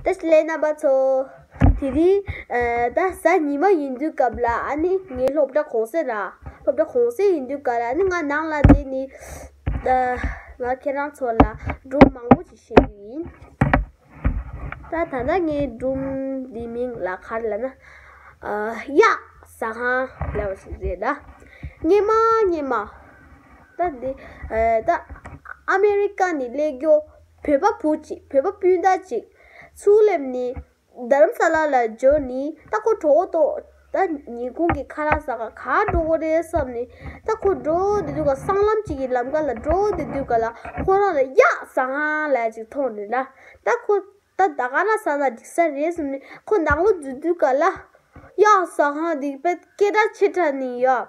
དེ་སླད་རྣམ་པ་ཚོ། དེ་རིང་ད་གཟའ་ཉི་མ་ཡིན་དུས་སྐབས་ལ་ཨ་ནི་ངའི་སློབ་གྲྭ་གོང་གསལ་ར། སློབ་གྲྭ་གོང་གསལ་ཡིན་དུས་སྐབས་ལ་ཨ་ནི་ང་ནང་ལ་བསྡད་ནས། ང་ཁྱེད་རང་ཚོ་ལ་སྒྲུང་མང་པོ་ཞིག་བཤད་རྒྱུ་ཡིན། ད་ད་ལྟ་ངའི་སྒྲུང་འདིའི་མིང་ལ་གར་ལ་ན། གཡགས་ཟ་ཁང་ཟེར་བ་ཞིག་རེད་ད། སྙེ་མ་སྙེ་མ། ད་འདི་ད། ཨ་མེ་རི་ཀ་ནས་སླེབས་རྒྱུ། བོད་པ་བུ་གཅིག་བོད་པ་སྤུན་ཟླ་གཅིག། ཚུར་སླེབས་ནི། དྷརམ་ས་ལཱ་ལ་འབྱོར་ནི་རྟ་སྐོར་གྲོགས་བོ་ཏོ། ད་ཉིད་ཁོང་གིས་ཁ་ར་ས་ག་ག་འགྲོ་གོ་རེད་བསམ་ནི། རྟ་སྐོར་འགྲོ་འདི་དུས་ཀ་སྲང་ལམ་གཅིག་གི་ལམ་ཀ་ལ་འགྲོ་འདི་དུས་ཀ་ལ་ཁོང་རང་ལ་ཡག་སང་ལ་ཅིག་མཐོང་ནི་ལ། ད་ཁོ་ད་ད་ག་ར་ས་ན་འགྲིག་ས་རེད་བསམ་ནི་ཁོ་ནག་ལོ་རྫུས་དུས་ཀ་ལ། ཡག་སང་ལ་འདི་པད་སྐད་སྒྲ་ཆེ་དྲག་ནི་ཡོད།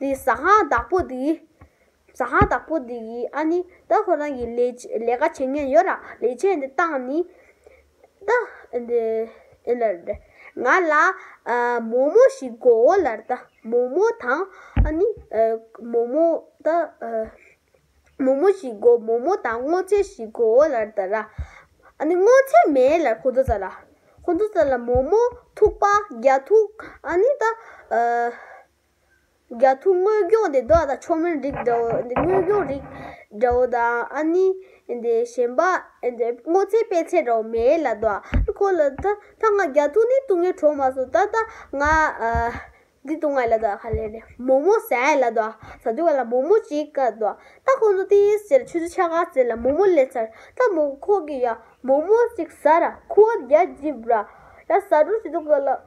དེ་ཟ་ཧང་བདག་པོ་དེ་ཟ་ཧང་བདག་པོ་དེ་ཡིན་ཨ་ནི། ད་ཁོ་རང་གིས་ལས་ཀ་བྱེད་མཁན་ཡོད་ར་ལས་བྱེད་འདི་བཏང་ནི། ད་འདི་ཨེ་ལར་ཏེ། ང་ལ་མོ་མོ་ཞིག་དགོའོ་ལར་ད་མོ་མོ་དང་ཨ་ནི། མོ་མོ་ད་མོ་མོ་ཞིག་དགོ་མོ་མོ་དང་སྔོ་ཚལ་ཞིག་དགོའོ་ལར་ད་ར། ཨ་ནི་སྔོ་ཚལ་མེད་ལར་ཁོ་ཚོ་ཟ་ལ། ཁོ་ཚོ་ཟ་ལ་མོ་མོ་ཐུག་པ་རྒྱ་ཐུག་ཨ་ནི་ད། རྒྱ་ཐུག་དངོས་སྐྱོང་དེ་བདག་དང་ཆོ་མེན་རིགས་འདྲ་བོ་དངོས་སྐྱོང་རིགས་འདྲ་བོ་དང་ཨ་ནི་གཞན་པ་སྔོ་ཚལ་དཔལ་ཚལ་འདྲ་བོ་མེད་ལ་དོ་ཁོ་ལ་ད་ད་ང་རྒྱ་ཐུག་ནི་ཏུང་ངའི་གྲོགས་མ་སོ་ད་ད་ང་འདི་ཏུང་ང་ལ་དོ་ཁ་ལེ་ལེ་མོ་མོ་ཟས་ལ་དོ་ཟ་དུས་ང་ལ་མོ་མོ་ཅིག་ག་དོ་ད་ཁོང་ཚོ་དེའི་ཟེར་ཆུ་ཚོད་ཆ་ག་ཟེར་ལ་མོ་མོ་ལེ་ཚར་ད་མོ་ཁོ་གི་ཡ་མོ་མོ་ཅིག་ཟ་ར་ཁུ་བ་རྒྱ་འཇིབ་ར་ཡ་ཟ་འགྲོ་ཅི་དུ་ག་ལ།